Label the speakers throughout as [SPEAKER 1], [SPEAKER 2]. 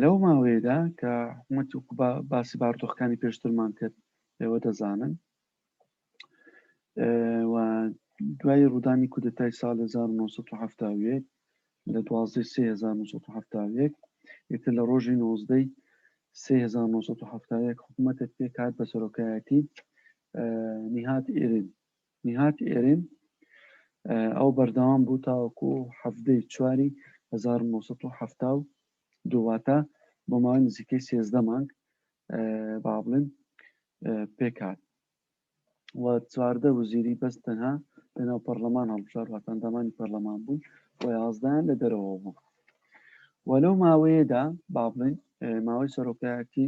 [SPEAKER 1] لەو ماوەیەدا کە حکومەت باسی باردۆخەکانی پێشترمان کرد ئێوە دەزانن و دوای ڕوودانی کودتای سال 1970 لە 1970 یەکتر لە ڕۆژی 19 1970 حکوومەتە پێکات بە سەرۆکایەتی نیهات ئێرن نیهاد ئێرێم ئەو بەردەوام بوو تاوەکو حەڤدە ی چواری هەزار و نۆ سەد و حەفتا و دوو واتە بۆ ماوەی نزیکەی سێزدە مانگ با بڵێن پێک هات و چواردە وزیری بەس تەنها لەناو پەرلەمان هەڵبژار واتە ئەندامانی پەرلەمان بوون و یازدەیان لە دەرەوە بوو و لەو ماوەیەدا با بڵێن ماوەی سەرۆکایەتی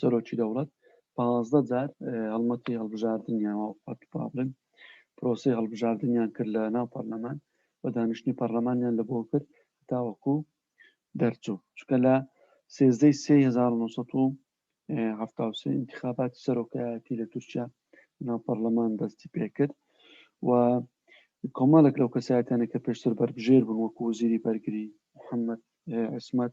[SPEAKER 1] سەرۆکی دەوڵەت پازدە جار هەڵمەتی هەڵبژاردنیان پابلن پرۆسی هەڵبژاردنیان کرد لە ناو پەرلەمان و دانیشتنی پەرلەمانیان لە بۆ کرد تاوەکو دەرچوو چکە لە سێزدەی سێ هزار انتخاباتی سەرۆکایەتی لە تورکیا ناو پەرلەمان دەستی پێکرد و کۆمەڵێک لەو کەسایەتانە کە پێشتر بەربژێر بوون وەکو وزیری بەرگری محەممەد عسمەت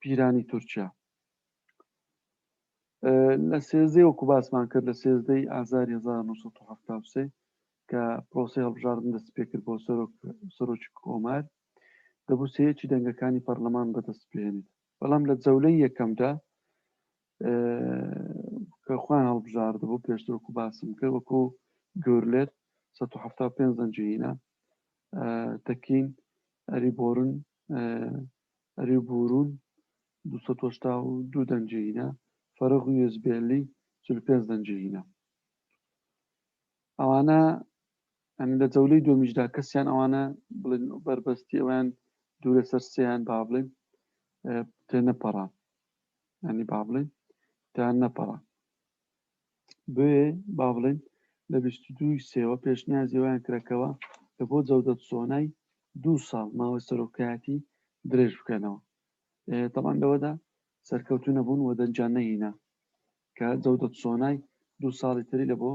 [SPEAKER 1] پیرانی تورکیا لە سێزدەی وەکو باسمان کرد لە سێزدەی ئازار 1970 کە پرۆسی هەڵبژاردن دەست پێکرد بۆ سەرۆک سەرۆکی کۆمار دەبوو سەیەکی دەنگەکانی پەرلەمان بەدەست بێنێت بەڵام لە جەولەی یەکەمدا کە خوان هەڵبژارد بۆ پێشتر وەکو باسم کرد وەکو گورلێت 1970 زەنجهینە تەکین ئەری بۆرن ئەری بوورون دوو سەد و هەشتا و دوو دەنگی هینا فەرەغ و یزبێلی چل و پێنج دەنگی هینا ئەوانە ئەنی لە جەولەی دۆمیشدا کەسیان ئەوانە بڵێن بەربەستی ئەویان دوورە سەر سیان با بڵێن تێ نەپەڕان ئەنی با بڵێن تیان نەپەڕان بۆیە با بڵێین لە بیست و دوو ی سێوە پێشنیازی ئەویان کرا کەوا کە بۆ جەودەت سۆنای دوو ساڵ ماوەی سەرۆکایەتی درێژ بکەنەوە تەبان لەوەدا سەرکەوتو نەبوون و دەنجان نەهینا کە جەودەت سۆنای دوو ساڵی تری لە بۆ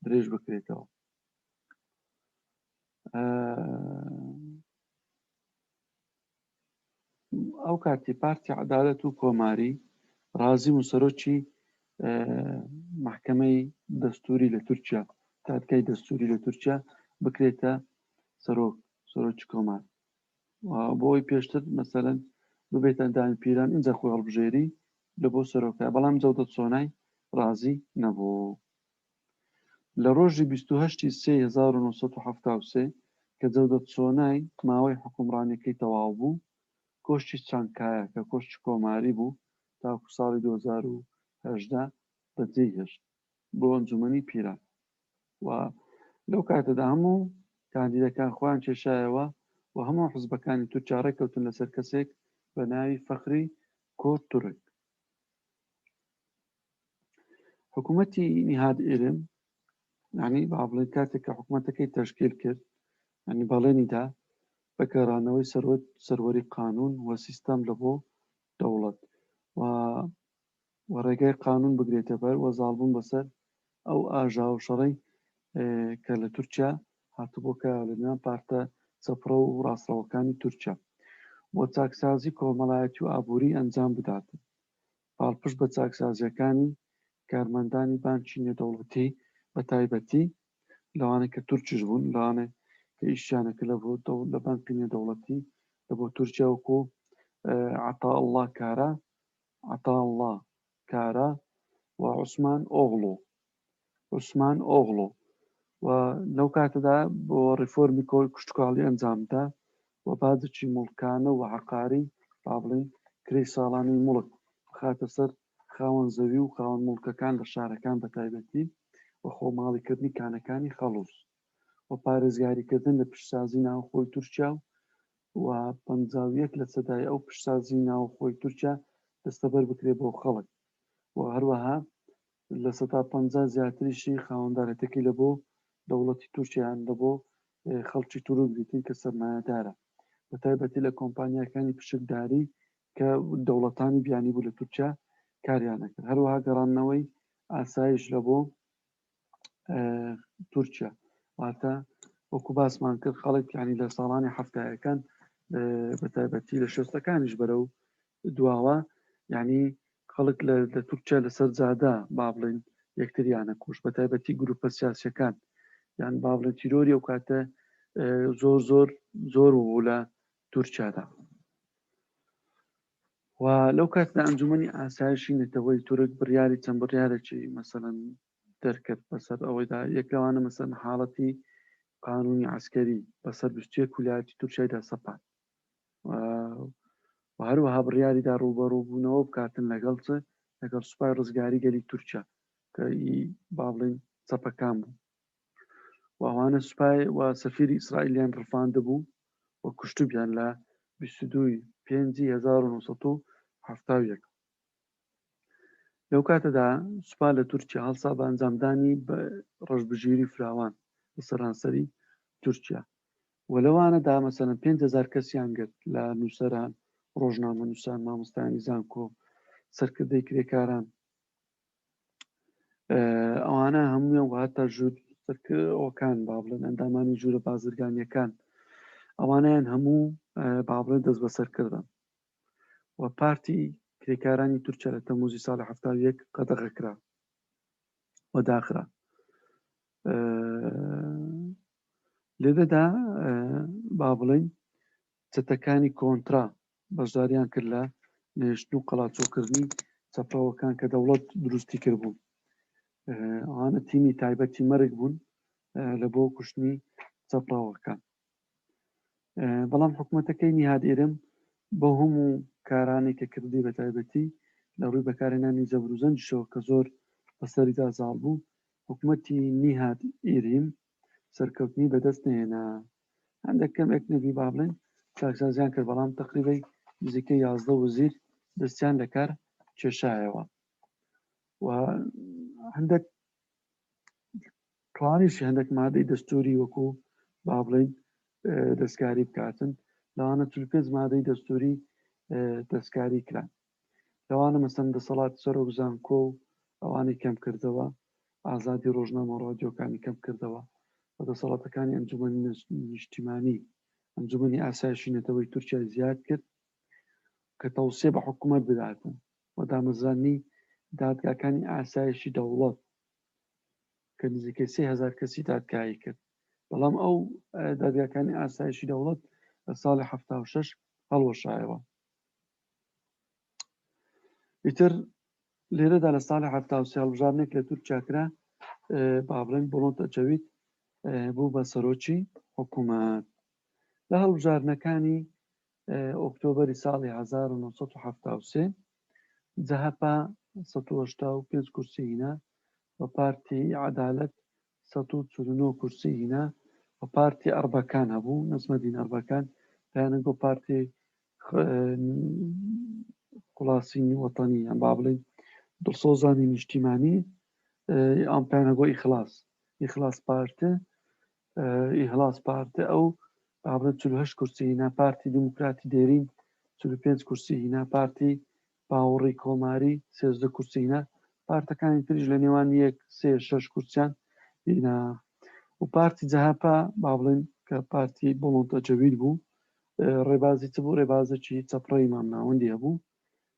[SPEAKER 1] درێژ بکرێتەوە ئەو کاتی پارتی عدالەت و کۆماری رازیم و سەرۆکی محکمەی دەستوری لە تورکیا دادگای دەستوری لە تورکیا بکرێتە سەرۆک سەرۆکی کۆمار بۆی پێشتر مەسەرەن ببێتە ئەندامی پیران ئینجا خۆی هەڵبژێری لە بۆ سەرۆکە بەڵام جەودە سۆنای رازی نەبوو لە ڕۆژی بیست و هەشت ی سێی هەزار و نۆ سەد و حەفتا و سێ کە جەودەت سۆنای ماوەی حوکمڕانیەکەی تەواو بوو، کۆشکی چانکایا کە کۆشکی کۆماری بوو تاکو ساڵی دوو هەزار و هەژدە بە جێی هێشت بۆ ئەنجومەنی پیران و لەو کاتەدا هەموو کاندیدەکان خۆیان کێشایەوە و هەموو حزبەکانی تورکیا ڕێککەوتن لەسەر کەسێک بە ناوی فەخری کۆ تورک. حکوومەتی نیهاد ئێرم ینی با بڵێن کاتێک کە حکوومەتەکەی تەشکیل کرد ینی بەڵێنیدا بە گەڕانەوەی سەروەت سەروەری قانون و سیستەم لە بۆ دەوڵەت و و ڕێگای قانون بگرێتە بەر وە زاڵبوون بەسەر ئەو ئاژا و شەڕی کە لە تورکیا هاتبوو کە لە نێوان پارتە چەپڕە و ڕاستڕەوەکانی تورکیا بۆ چاکسازی کۆمەڵایەتی و ئابووری ئەنجام بدات پاڵپشت بە چاکسازییەکانی کارمەندانی بانکی نێودەوڵەتی بە تایبەتی لەوانەی کە تورکیش بوون، لەوانەی کە ئیشیانە کردە بۆ لە بانکی نێودەوڵەتی لە بۆ تورکیا وەکو عەتائەڵڵا کارا، Ataullah Kara، و عوسمان ئۆغڵو. عوسمان ئۆغڵۆ و لەو کاتەدا بۆ ڕیفۆرمی کشتوکاڵی ئەنجامدا و باجەکی موڵکانە و عەقاری با بڵێین کرێی ساڵانەی موڵک بخاتە سەر خاوەن زەوی و خاوەن موڵکەکان لە شارەکان بە تایبەتی و خۆماڵیکردنی کانەکانی خەڵووز و پارێزگاریکردن لە پیشسازی ناوخۆی تورکیا و و پەنجا و یەک لەسەدای ئەو پیشسازی ناوخۆی تورکیا دەستەبەر بکرێت بۆ خەڵک و هەروەها لە سەدا پەنجا زیاتریشی خاوەندارێتیەکەی لە بۆ دەوڵەتی تورکیا یان لە بۆ خەڵکی تورک دیتن کە سەرمایەدارە بە تایبەتی لە کۆمپانیاکانی پشکداری کە دەوڵەتانی بیانی بوو لە تورکیا کاریانەکرد هەروەها گەڕاننەوەی ئاسایش لە بۆ تورکیا واتە وەکو باسمان کرد خەڵک ینی لە ساڵانی هەفتایەکان بە تایبەتی لە شێستەکانیش بەرە و دواوە ینی خەڵک لە لە تورکیا لە سەر جادە با بڵێین یەکتریان ئەکوشت بە تایبەتی گرووپە سیاسییەکان یان با بڵێن تیرۆری ئەو کاتە زۆر زۆر زۆر بوو لە تورکیادا و لەو کاتدا ئەنجومی ئاسایشی نەتەوەی تورک بڕیاری چەند بڕیارێکی مەسەن دەرکرد بەسەر ئەوەیدا یەک لەوانە مەسەن حاڵەتی قانونی عسکەری بەسەر بستێک ولاتی تورکیایدا سەپات و هەروەها بڕیاریدا ڕووبەڕووبوونەوە بکاتن لەگەڵ چ لەگەڵ سوپای ڕزگاری گەلی تورکیا کە ئی باڵین چەپەکان بوو وانە سوپای و سەفیری ئیسرائیلیان ڕفاند بوو و کوشتوبیان لە 1970 لەو کاتەدا سوپا لە تورکیا هەڵسا بە ئەنجامدانی بە ڕژبژیری فراوان لە سەرانسەری تورکیا و لەوانەدا مەسەلەن پێنج هەزار کەسیان گرت لە نووسەران، ڕۆژنامەنووسان، مامۆستایانی زانکۆ، سەرکردەی کرێکاران، ئەوانە هەموویان و هەتا ژوور سەرکەوەکان با بڵێن ئەندامانی ژوورە بازرگانیەکان ئەوانیان هەموو با بڵێن دەست بەسەر کردن و پارتی کرێکارانی تورکیا لە تەموزی ساڵی هەفتا یەک قەدەغەکرا و داخرا لێدەدا با بڵین چەتەکانی کۆنترا بەشداریان کرد لە نێشت و قەڵاچۆکردنی چەپەوەکان کە دەوڵەت دروستی کرد بوو ئەوانە تیمی تایبەتی مەرگ بوون لە بۆ کوشتنی چەپەوەکان بەڵام حکومەتەکەی نیهاد ئیرم بەو هەموو کارانەی کە کردی بە تایبەتی لە ڕووی بەکارهێنانی زەبر و زەنگیشەوە کە زۆر بە سەریدا زاڵ بوو حکومەتی نیهاد ئیریم سەرکەوتنی بە دەست نەهێنا هەندێک کەم ئێک نەبی با بڵێن چاکسازیان کرد بەڵام تقریبی نزیکەی یازدە وزیر دەستیان لە کار کێشایەوە و هەندێک توانیشی هەندێک مادەی دەستوری وەکو با بڵین دەستکاری بکاتن لەوانە چ پێنج مادەی دەستوری دەستکاری کران لەوانە مەسەن دەسەڵات سەرۆک زانکۆ و ئەوانی کەم کردەوە ئازادی ڕۆژنامە ڕۆژۆکانی کەم کردەوە بە دەسەڵاتەکانی ئەنجومەنی نیشتیمانی ئەنجومنی ئاسایشی نەتەوەی تورکیا زیاد کرد کە تەوسێ بە حکوومەت بداتن و دامەزراندنی دادگاکانی ئاسایشی دەوڵەت کە نزیکەی سێ هەزار کەسی دادگایی کرد بەڵام ئەو دادگاکانی ئاسایشی دەوڵەت لە ساڵی ه شش هەڵوەشایەوە ئیتر لێرەدا لە ساڵی ه هەڵبژاردنێک لە تورکیا کرا بابلێن بڵۆنتە جەوید بوو بە سەرۆکی حکوومەت لە هەڵبژاردنەکانی ئۆکتۆبەری ساڵی هەزار و نۆ سەد و حەفتا و سێ جەهەپە سەد و هەشتا و پێنج کورسی هینا و پارتی عەدالەت سەد و چل و نۆ کورسی هینا و پارتی ئەڕبەکان هەبوو نەجمەدین ئەڕبەکان پەیانە گۆ پارتی خلاصینی وەتەنی یان با بڵێین دڵسۆزانی نیشتیمانی ئەم پەیانە گۆ ئیخلاص ئیخلاص پارتێ ئیهلاس پارتە ئەو بابەت 48 کورسی هینا پارتی دیموکراتی دێرین 45 کورسی هینا پارتی باوەڕی کۆماری 13 کورسی هینا پارتەکانی تریش لە نێوان یەک سێ شەش کورسیان هینا و پارتی جەهەپە با بڵێن کە پارتی بڵۆنتە جەوید بوو ڕێبازی چ بوو ڕێبازەکی چەپڕەی مامناوەندی هەبوو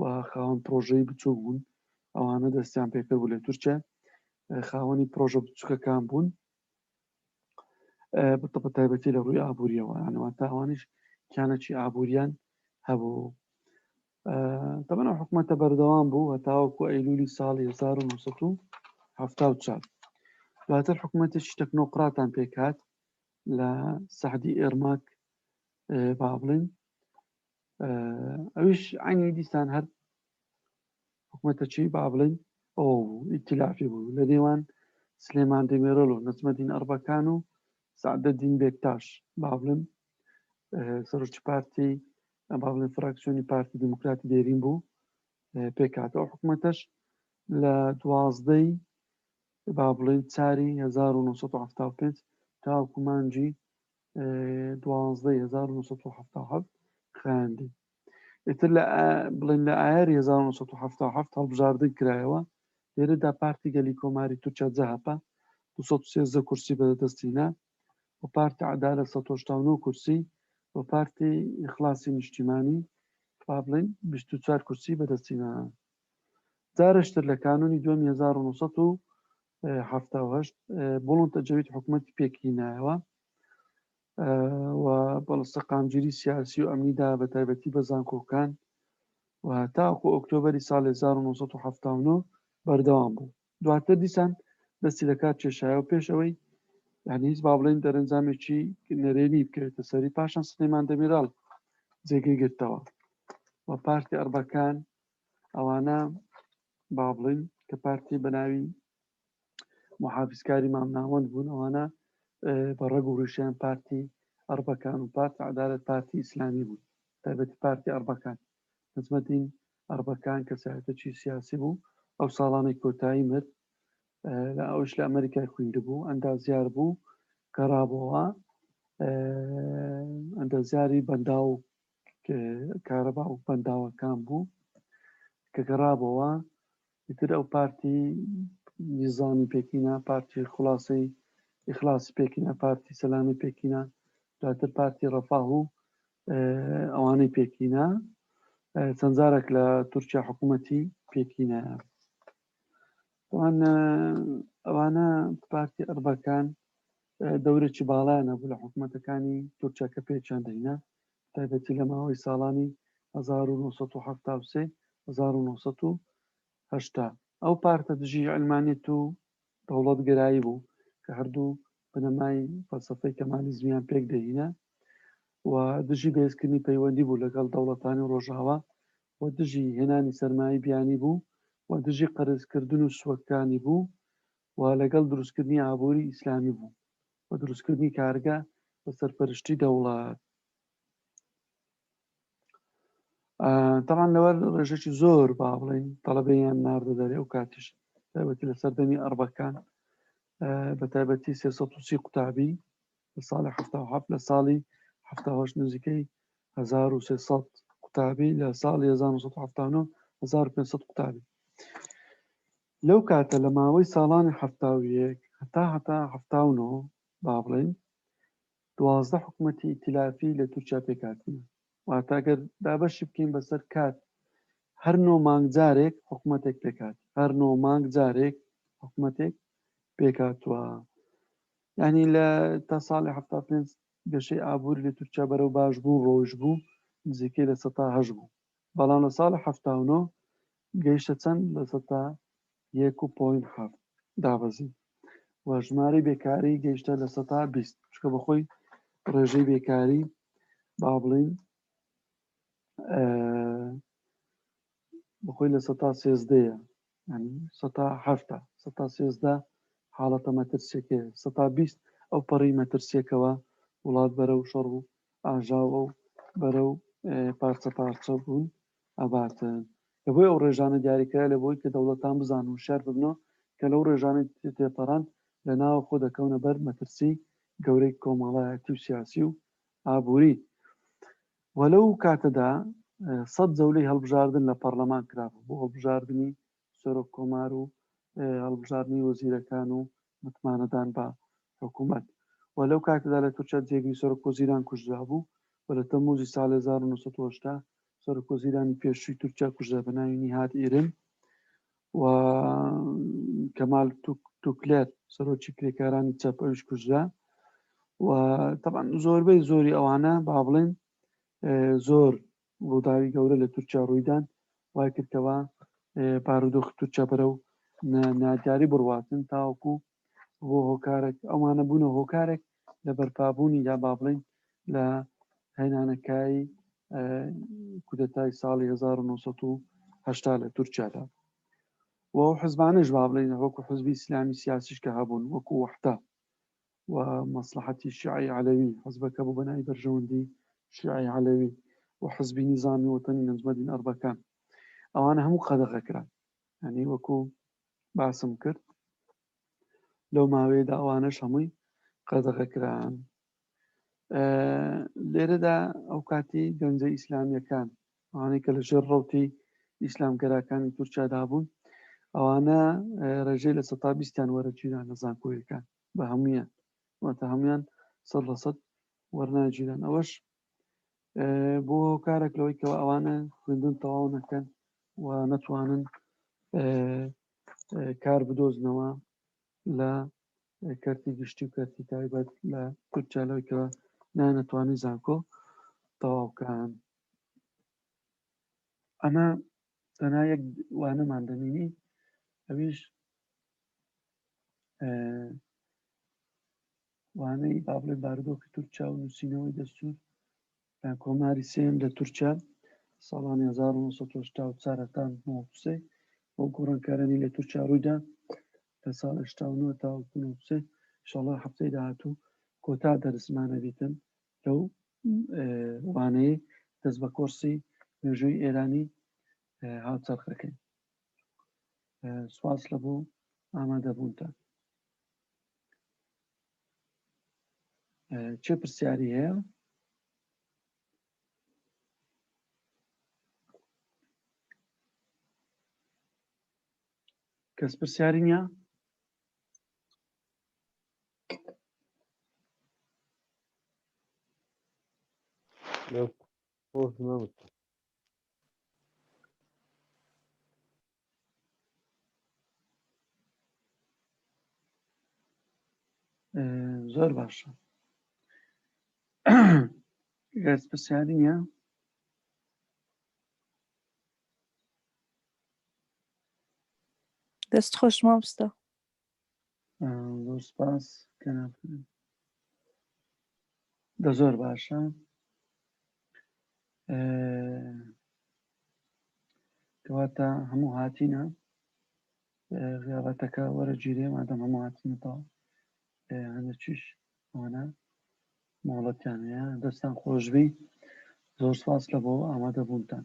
[SPEAKER 1] و خاوەن پرۆژەی بچوک بوون ئەوانە دەستیان پێکرد بوو لە تورکیا خاوەنی پرۆژە بچووکەکان بوون بە تایبەتی لە ڕووی ئابوووریەوە ئەنەوە تاوانش کیانەی ئابوووریان هەبوو تەمەە حکوومەتە بەردەوام بوو هەتاوەکو ئەیلولی ساڵی 1970 دواتر حکوومەتێکی تەکنۆقراتان پێکات لە سەعدی ئێرماک با بڵین ئەوش عینی دیسان هەر حکوومەتە چی با بڵین ئۆ ئیتلافی بوو لە نێوان سلێمان دەمێرۆل و نەچمەدین ئەربەکان و سعدە دین بێکتاش با بڵم سەرچ پارتی با بڵێن فراکسیۆنی پارتی دیموکراتی دێرین بوو پێکاتەوە حکوومەتەش لە دوازدەی با بڵین چاری 1970 تاکومانجی دوازدە هزار و نۆسەد و حەفتا و حەفت خایاندی ئێتر لە ئا- بڵێن لە ئایار 1970 هەڵبژاردن کرایەوە لێرەدا پارتی گەلی کۆماری تورکیا جەهەپە 213 کورسی بەدەستینا و پارتی عدالە 1970 کورسی و پارتی ئیخلاسی نیشتیمانی با بڵێن 24 کورسی بەدەستینا جارشتر لە کانونی دوم 1900 و حەفتا و هەشت بوڵنتە جەوید حکوومەتی پێکی نایەوە و بەڵ سەقامگیری سیاسی و ئەمنیدا بە تایبەتی بە زانکۆکان و تاکو ئۆکتۆبری ساڵ 1970 بەردەوام بوو دواتر دیسان دەستی لە کار کێشایە و پێش ئەوەی یعنی هیچ با بڵێن دەرەنجامێکی نەرێنی بکەوێتە سەری پاشان سلێمان دەمیرال جێگەی گرتەوە و پارتی ئەربەکان ئەوانە با بڵێین کە پارتی بە ناوی محافزکاری مامناوەند بوون ئەوانە بە ڕەگ و ڕیشیان پارتی ئەربەکان و پارتی عدالت پارتی ئیسلامی بوون تایبەتی پارتی ئەربەکان نزمەدین ئەربەکان کەسایەتەکی سیاسی بوو ئەو ساڵانی کۆتایی مرد لە ئەوش لە ئەمریکای خویند بوو ئەندازیار بوو گەڕابەوە ئەندازیاری بەنداو کارەبا ئەو بەنداوەکان بوو کە گەڕابەوە تر ئەو پارتی نیزانی پێکینە پارتی خلاصەی ئیخلاصی پێکینە پارتی سەلامی پێکینە دواتر پارتی ڕەفاه و ئەوانەی پێکینە چەندجارێک لە تورکیا حکوومەتی پێکینە ئەوانە پارتی ئەربەکان دەورێکی باڵایان هەبوو لە حکوومەتەکانی تورکیا کە پێچیان دەینە بەتایبەتی لە ماوەی ساڵانی هەزار و نۆ سەد و حەفتا و سێ هەزار و نۆ سەد و هەشتا. ئەو پارتە دژی عەلمانیەت و دەوڵەتگەرایی بوو کە هەردوو بنەمای فەلسەفەی کەمالیزمیان پێک دەهینا و دژی بەهێزکردنی پەیوەندی بوو لەگەڵ دەوڵەتانی ڕۆژاوا و دژی هێنانی سەرمایەی بیانی بوو و دژی قەرزکردن و سوەکانی بوو و لەگەڵ دروستکردنی ئابووری ئیسلامی بوو. و دروستکردنی کارگە بە سەرپەرشتی دەوڵات تاوان لەوەر ڕێژێکی زۆر با بڵین تەڵەبەیان ناردە دەرێ و کاتیش تایبەتی لە سەردەمی ئەربەکان بە تایبەتی سێ قوتابی لە ساڵی ه لە ساڵی هه نزیکەی 1300 قوتابی لە ساڵی 1970 1500 قوتابی لەو کاتە لە ماوەی ساڵانی حەفتا و یەک هەتا هەتا حەفتا و نۆ با بڵێین دوازدە حکومەتی ئیتیلافی لە تورکیا پێکهاتنە واتە گەر دابەشی بکەین بەسەر کات هەر نۆ مانگ جارێک حکومەتێک پێکات هەر نۆ مانگ جارێک حکومەتێک پێکاتوە ینی لە تا ساڵی حەفتا پێنج گەشەی ئابووری لە تورکیا بەرەو باش بوو ڕۆژ بوو نزیکەی لە سەتا هەش بوو بەڵام لە ساڵی حەفتا و نۆ گەیشتە چەند لە سەدا یەک و پۆینت حەفت دابەزی و ژمارەی بێکاری گەیشتە لە سەدا بیست چکە بەخۆی ڕێژەی بێکاری با بڵین بەخۆی لە سەدا سێزدەیە یانی سەتا حەفتا سەتا سێزدە حاڵەتە مەترسیەکەیە سەتا بیست ئەو پەڕی مەترسیەکەوە وڵات بەرە و شەڕ و ئاژاوە و بەرە و پارچە پارچە بوون ئەباتن لە بۆی ئەو ڕێژانە دیاریکرا لە بۆی کە دەوڵەتان بزان و شار ببنەوە کە لەو ڕێژانە تێپەڕان لە ناوە خۆ دەکەونە بەر مەترسی گەورەی کۆمەڵایەتی و سیاسی و ئابووری و لەو کاتەدا سەد جەولەی هەڵبژاردن لە پەڕلەمان کرابوو بۆ هەڵبژاردنی سەرۆک کۆمار و هەڵبژاردنی وەزیرەکان و متمانەدان بە حکوومەت و لەو کاتەدا لە تورکیا جێگری سەرۆک وەزیران کوژرابوو و لە تەمووزی ساڵی هەزار و نۆ سەد و هەشتا سەرۆک وەزیرانی پێشووی تورکیا کوژرا بە ناوی نیهاد ئیرن و کەمال توکلێر سەرۆکی کرێکارانی چەپ ئەوش کوژرا و تەبان زۆربەی زۆری ئەوانە با بڵێن زۆر ڕووداوی گەورە لە تورکیا ڕوویدان وای کردەوە بارودۆخ تورکیا بەرە و نادیاری بڕواتن تاوەکو بۆ هۆکارەک ئەومانە بوونە هۆکارێک لە بەرپابوونیدا با بڵین لە هەینانەکای کودەتای ساڵی 1970 لە تورکیادا و حزبانش با بڵین وەکو حزبی ئسلامی سیاسیش کە هەبوون وەکو وەحتا و مەسلحەتی شیعی علەوی حزبەکە بوو بەنای بەرژەوەندی شیعی علەوی و حزبی نیزامی وەتەنی نەجمەدین ئەربەکان ئەوانە هەموو قەدەغەکران هەنی وەکو باسم کرد لەو ماوەیەدا ئەوانەش هەمووی قەدەغە کران لێرەدا ئەو کاتی گەنجە ئیسلامیەکان ئەوانەی کە لە ژێر ڕوتی ئیسلامگەراکانی تورکیادا بوون ئەوانە ڕێژەی لە سەتا بیستیان وەرەگیران لە زانکۆیەکان بە هەمویان واتە هەمویان سەد لە سەد وەرناگیران ئەوەش بۆ کارێک لەوەی کەەوە ئەوانە خوێندن تەواو نەکەن و نەتوانن کار بدۆزنەوە لە کەرتی گشتی و کەرتی تایبەت لە تورکیا لەوەی کەەوە نانەتوانی زانکۆ تەواوکان ئەمە تەنا یەک وانەمان دەمینی ئەویش وانەی با بڵێ بارودۆخی تورکیا و نووسینەوەی دەستور لە کۆماری سێم لە تورکیا ساڵانی 1940 هەتا نوسێ بۆ گۆڕانکارانی لە تورکیا ڕوویدا لە ساڵ 89 تا نوسێ شڵە هەفتەی داهاتوو کۆتا دەرسمانە بیتن لەو وانەیە دەست بە کۆرسی مێژووی ئێرانی هاوچەرخەکەی سواس لە بۆ ئامادەبوونتان چه پرسیاری هەیە کەس پرسیاری نیە زۆر باشە گەرز پرسیاری نیە
[SPEAKER 2] دەست خۆش مامستا
[SPEAKER 1] زۆر سپاس کەناپ دە زۆر باشە کەواتە هەموو هاتینە غیابەتەکە وەرە جیرێ مادەم هەموو هاتینەتەوە هەندە چیش ئەوانە مۆڵەتیان هەیە دەستان خۆشببی زۆر سپاس لە بۆ ئامادەبوونتان